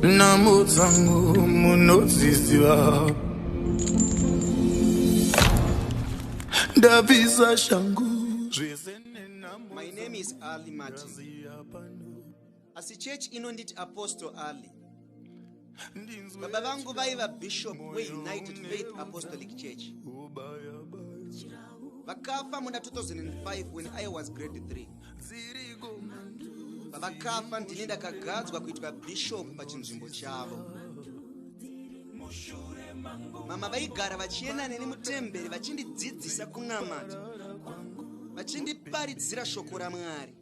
namo dzangu munodziziva ndapisa shangu zvese my name is ali martin asi chechi inonditi apostle ali baba vangu vaiva bishop weunited faith apostolic church vakafa muna 2005 when i was grade 3 pavakafa ndini ndakagadzwa kuitwa bishop pachinzvimbo chavo mama vaigara vachienda neni mutemberi vachindidzidzisa kunamata vachindiparidzira shoko ramwari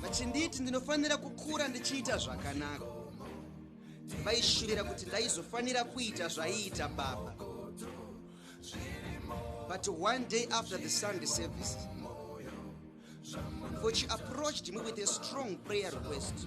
vachinditi ndinofanira kukura ndichiita zvakanaka vaishuvira kuti ndaizofanira kuita zvaiita baba but one day after the sunday service for she approached me with a strong prayer request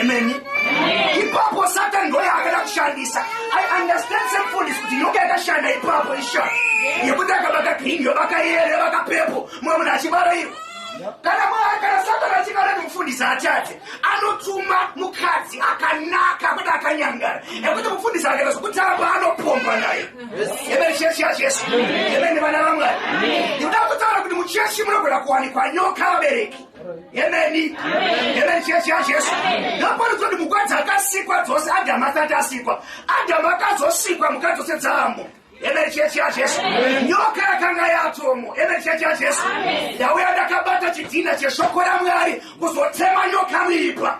Amen. Ipapo Satan ndoye akada kushandisa. I understand some food is kuti nyoka yakashanda ipapo isha. Yekuti akabaka green yobaka yere baka pepo. Mwe munhu achibara iyo. Kana mwana kana Satan achikara mufundisi achaje. Anotuma mukadzi akanaka kuti akanyangara. Yekuti mufundisi akaita zvokutamba anopomba naye. Amen. Chechi ya Jesu. Amen. Vana vamwari. Ndikuda kutaura kuti muchechi munogona kuwanikwa nyoka vabereki. Emeni. Emeni chechi yaJesu. Ndaparidzwa kuti mukadzi akasikwa dzose Adamu asati asikwa. Adamu akazosikwa mukadzi dzose dzaamo. Emeni chechi yaJesu. Nyoka yakanga yatomo. Emeni chechi yaJesu. Ndauya ndakabata chidhina cheshoko raMwari kuzotema nyoka muipa.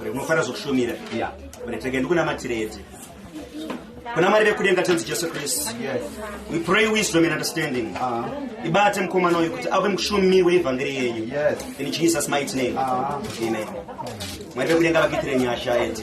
Uri unofanira zvokushumira. Yeah. Uri tenge ndikunamatire kuna mari vekudenga tenzi jesu kristu we pray wisdom and understanding uh-huh. ibate mukomana uyu kuti ave mushumiri weevhangeri yenyu in jesus might name uh-huh. amen mwari vekudenga vakuitire nyasha eti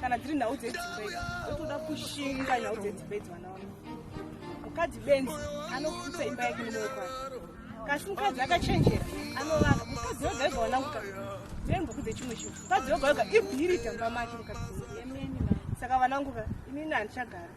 kana dziri nhau dzedzimba idzi otoda kushinga nhau dzedzimba idzi vana vangu mukadzi benzi anoputsa imba yake nemoyo kwake kasi mukadzi akachenjera anovaka mukadzi yoga yoga wananguka dzembo kudze chimwe chinhu mukadzi yoga yoga ibhiri tamba make mukadzi yemeni saka vananguka inini handichagara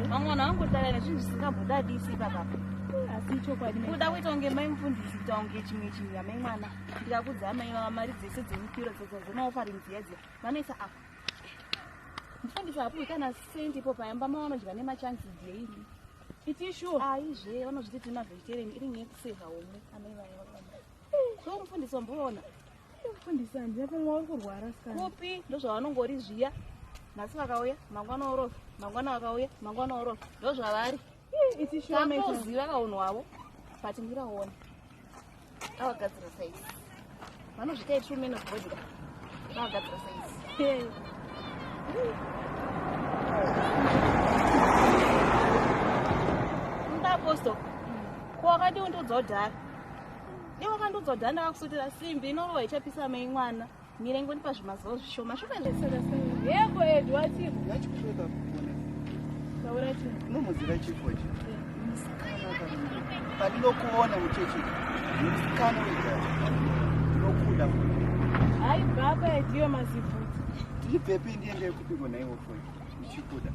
vamwana vangotara nezvinhu zvisingambodadisi ipapa asi ichokwadi kuda kuita kunge mai mufundisi kuita kunge chimwe chinhu yamai mwana ndikakudza amai vava mari dzese dzemupiro dzodzazvemaofarinziya dziya vanoisa apa mfundisi hapuwi kana sendi ipo payamba ma vanodya nemachansi daily itishu aizve vanozviti tiri mavegetarian iri nyaya yekuseva homwe amai vaya vakamba so mfundisi wamboona mfundisi handina pamwe uri kurwara kupi ndozvavanongori zviya nhasi vakauya mangwana orofa mangwana vakauya mangwana orofa ndozvavari itishuaaiziva kaunhu wavo but ndiraona avagadzira saizi vanozvita true man of body avagadzira saizi ndaaposto ko wakandiundiudza udhara iwe wakandiudza udhara ndakakusutira simbi inorova ichapisa mei mwana Mire ngoni pazvimazuva zvishoma shoma yeko edu wativo yachikushota kugona taura chii unomuziva chifu wacho pandinokuona muchechi musikana wega ndinokuda hayi baba ediwe mazivhudzi ndibvepi ndiendee kupi kona iwo fo uchikuda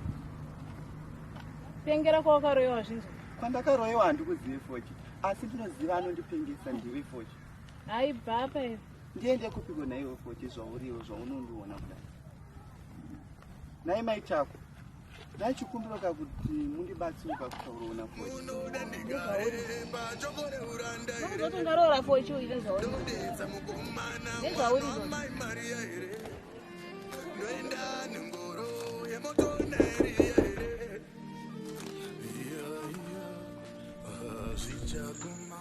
pengera kwawakaroyewa zvinzwa kwandakaroyewa handikuzive fochi asi ndinoziva anondipengesa ndiwe fochi hayi baba Ndiende kupiko naiwe foti zvauriwo zvaunondiona kudai. Nai mai chako. Nai chikumbiro kakuti mundibatsire pakutaurona foti. Unoda ndigare pachokore uranda here. Ndozoti ndaroora foti uite zvauri. Ndodetsa mukomana mwana mai Maria here. Ndoenda nengoro yemoto naeria here. Iya iya. Hazvichaguma.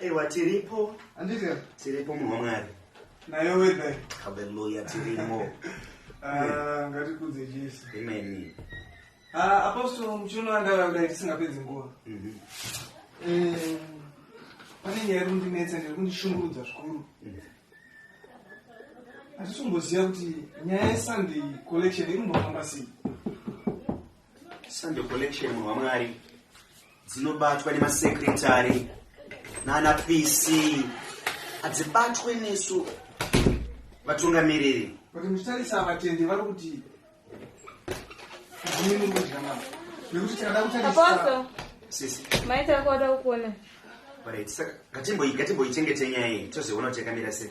aiwa tiripo andika tiripo munhu wamwari naye wedha haleluya tirimo ah, ngatikudze jesu imeni ah, apostol muchiono andakadai tisingapedzi nguva mhm. eh, pane nyaya iri kundinetsa ndiri kundishungurudza zvikuru mhm. hatisomboziva kuti nyaya yesunday collection iri kumbofamba sei Sunday collection munhu wamwari dzinobatwa nemasekretary nana pc hadzibatwe nesu vatungamiriri kuti muchitarisa vatendi vari kuti zimini mudya mama nekuti tikada kutarisa sisi maita akuwada kukuona right saka ngatimboichengetei nyaya iyi tozoona kuti yakamira sei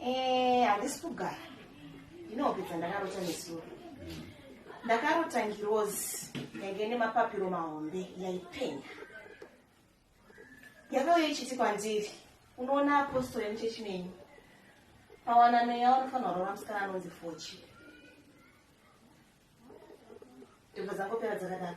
Eh, handisi kugara ndinopedza ndakarota nesuro ndakarota ngirozi yainge nemapapiro mahombe yaipenya yakauya ichiti kwandiri unoona apostori yemuchechi menyu pawana mweya unofanira kurora musikana anonzi fochi ndibva dzangopera dzakadaro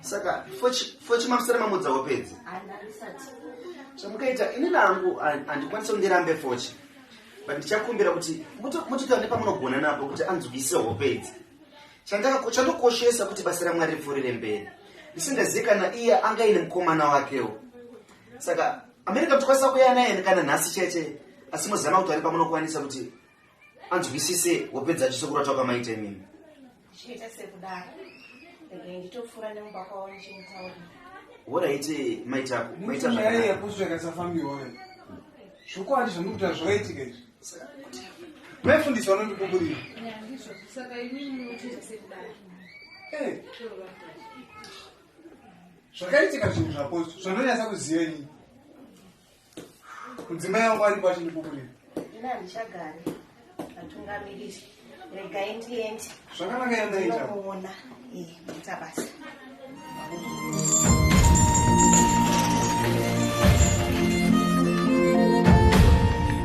saka fochi mamusara mamudzawo pedzi chamukaita ini nangu handikwanisa kundirambe fochi but ndichakumbira kuti mutotaura nepamunogona napo kuti anzwise hope idzi chandokoshesa kuti basa ramwari ripfuurire mberi ndisingazivi kana iye anga ine mukomana wakewo saka amerika tikwanisa kuya naye kana nhasi chete asi mozama kuti ari pamunokwanisa kuti anzwisise wopedza chiso kurota kwamaita imimi chiita sekudaro regai nditopfuura nemumba kwavo muchimutaura woraite maitako maitanyaya yekusveka safambiwoyo zvokwadi zvamuri kuta zvoitika izvi mefundisi vanondikuburira eh. zvakaitika zvinhu zvaposo zvandonyatsa kuziva nyii mudzimai wangu ari kwacho ndikukurira ina handichagari atungamiriri regai ndiende zvakanaka yandaitaona ita basa